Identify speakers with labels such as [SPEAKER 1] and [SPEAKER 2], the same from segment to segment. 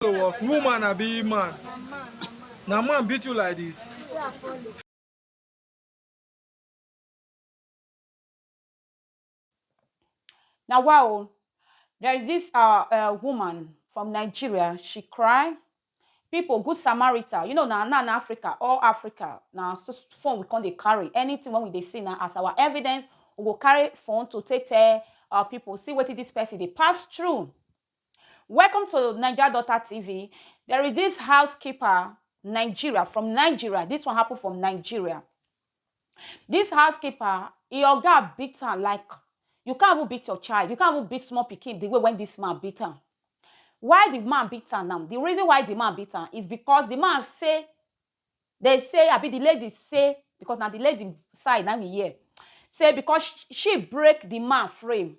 [SPEAKER 1] to work woman abi man na man beat you like this Now, wow, there is this uh, uh, woman from Nigeria. She cry. People, good Samaritan. You know, now, now in Africa, all Africa, now so phone we can't they carry anything when we they see now as our evidence. We go carry phone to take tell uh, people see what this person they pass through. Welcome to Naija Daughter TV. There is this housekeeper, Nigeria, from Nigeria. This one happened from Nigeria. This housekeeper, e oga beat am like you can't even beat your child. You can't even beat small pikin the way when this man beat am. Why the man beat am now? The reason why the man beat am is because the man say, they say, I be the lady say, because now the lady side, now me here, say because sh- she break the man frame.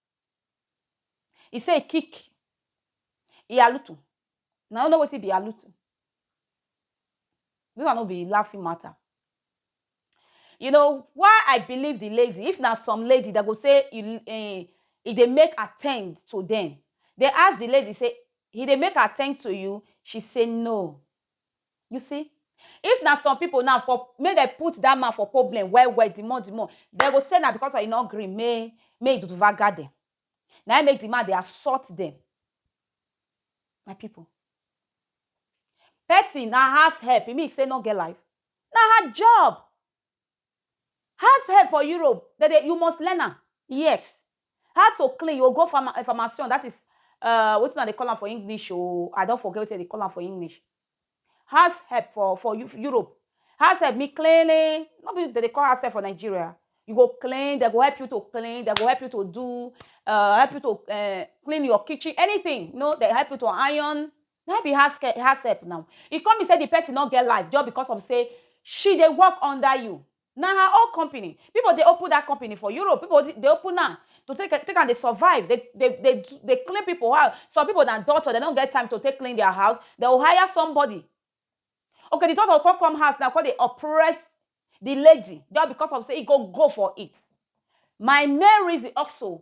[SPEAKER 1] E say e kick e alutu una no know wetin be alutu dis one no be laughing matter you know why I believe the lady if na some lady dem go say e um e dey make attempt to dem dem ask the lady say he dey make attempt to you she say no You see, if na some people now for make dem put that man for problem well well the more the more dem go say na because of he no gree make make he duvaga dem na him make the man dey assault dem my people person na house help e mean say e no get life na her job House help for Europe dem dey you must learn am yes how to clean you go go farma eh farmation that is eh wetin una dey call am for English o I don forget wetin dem dey call am for English house help for for Europe house help mean cleaning no be dem dey call house help for Nigeria you go clean dem go help you to clean dem go help you to do eh help you to eh clean your kitchen anything no dey help you to iron Na im be house ke house help now. E come be say the person no get life just because of say she dey work under you. Na her own company. People dey open that company for Europe. People dey dey open am to take am take am dey survive, dey dey dey do dey clean people house. Some people na doctor, dem no get time to take clean their house, dem go hire somebody. Okay, the doctor go come come house now come dey oppress the lady just because of say e go go for it. My main reason also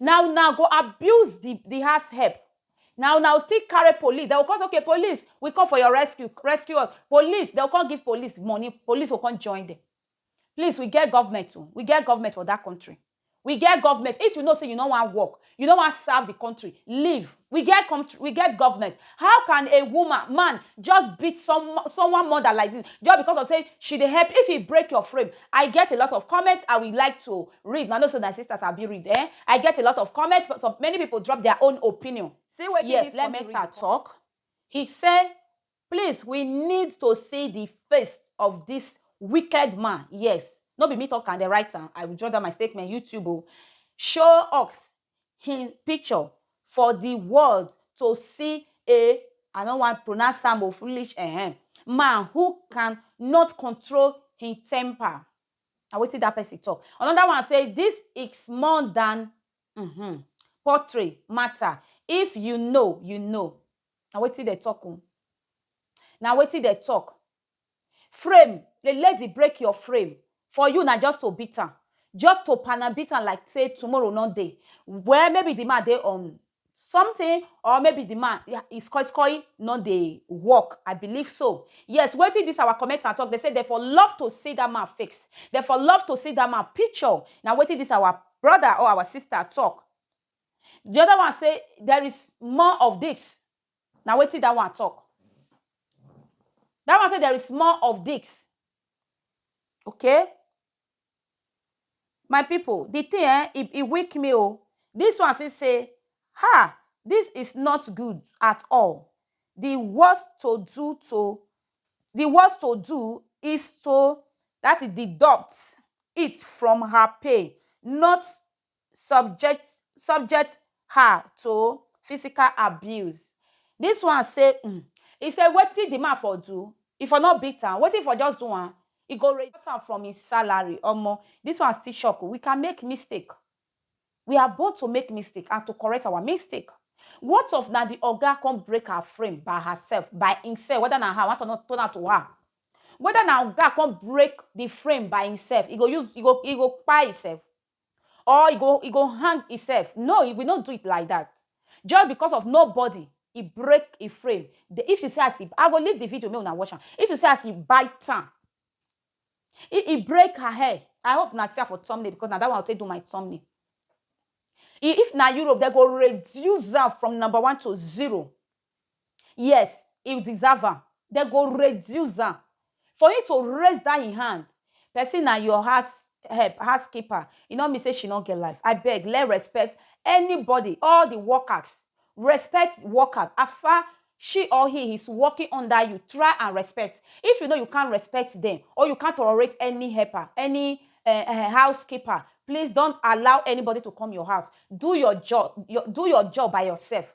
[SPEAKER 1] na una go abuse the the house help na una go still carry police they go come say okay police we come for your rescue rescue us police they go come give police money police go come join them please we get government o we get government for that country we get government if you know say you no wan work you no wan serve the country leave We get contr we get government, how can a woman, man just beat some someone mother like this just because of say she dey help if e break your frame I get a lot of comment I will like to read na no say my sister sabi read eh I get a lot of comment some many people drop their own opinion See wetin yes this let funny Meta read. talk he say please we need to see the face of this wicked man yes no be me talk am dem write am I withdraw that my statement YouTube o show us hin picture for di world to see a I no wan pronounce am o foolish ehem man who can not control him temper. Na wetin that person talk. Another one say this is more than mm-hmm, poultry matter. If you know, you know. Na wetin they talk o. Na wetin they talk. Frame, le let di break your frame for you na just to beat am just to pan am beat am like say tomorrow no dey well maybe di man dey on something or maybe di man his koi koi no dey work I believe so yes wetin dis our commenter talk dem say dem for love to see dat man face dem for love to see dat man picture na wetin dis our brother or our sister talk di other one say there is more of dis Na wetin that one talk. That one say there is more of this okay my people the thing eh e e weak me o this one still say um this is not good at all the worst to do to the worst to do is to that is deduct it from her pay not subject subject her to physical abuse. Dis one say um e say wetin di man for do, e for no beat am, wetin e for just do am, e go cut am from im salary. Omo, dis one still shock o. We can make mistake. We are both to make mistake and to correct our mistake. What of na di oga come break her frame by herself, by imself, whether na her, I want to know, turn am to her. Whether na oga come break di frame by imself, e go use, e go, e go kpai imself? Or e go e go hang himself no e we no do it like that just because of nobody e break e frame the if you see as e I go leave the video make una watch am if you see as e bite am e e break her hair I hope una see am for thumbnail because na that one I take do my thumbnail e if na Europe dem go reduce am from number one to zero Yes, e deserve am. Dem go reduce am. For him to raise that him hand, person na your house help, house keeper, e no mean say she no get life. I beg, let respect anybody, all the workers, respect workers as far she or he is working under you, try and respect. If you know you can't respect them or you can't tolerate any helper, any uh, uh, housekeeper, please don't allow anybody to come your house. Do your job, your, do your job by yourself.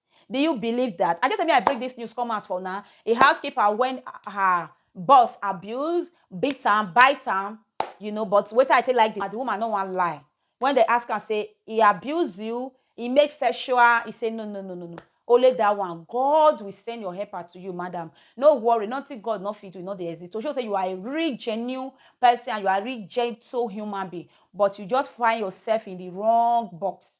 [SPEAKER 1] Do you believe that? I just say me I break this news come out for una. A housekeeper when her boss abuse, beat am, bite am, you know, but wetin I take like the, the woman no wan lie. When they ask am say he abuse you, he make sexual, he say no, no, no, no, no. Only that one. God will send your helper to you, madam. No worry, nothing God not fit do, not the exist. To show say you are a real genuine person and you are a real gentle human being, but you just find yourself in the wrong box.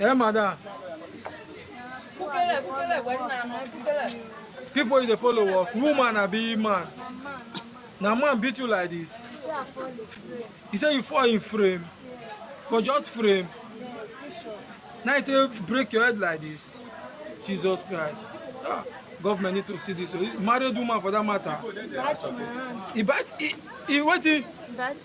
[SPEAKER 1] Eh, madam. Kukele, kukele, kwani na na kukele. People you dey follow work, woman abi man? Na man beat you like this. He say you fall in frame. For just frame. Now you take break your head like this. Jesus Christ. Ah, government need to see this. oh. Married woman for that matter. He bite, he, he wetin? But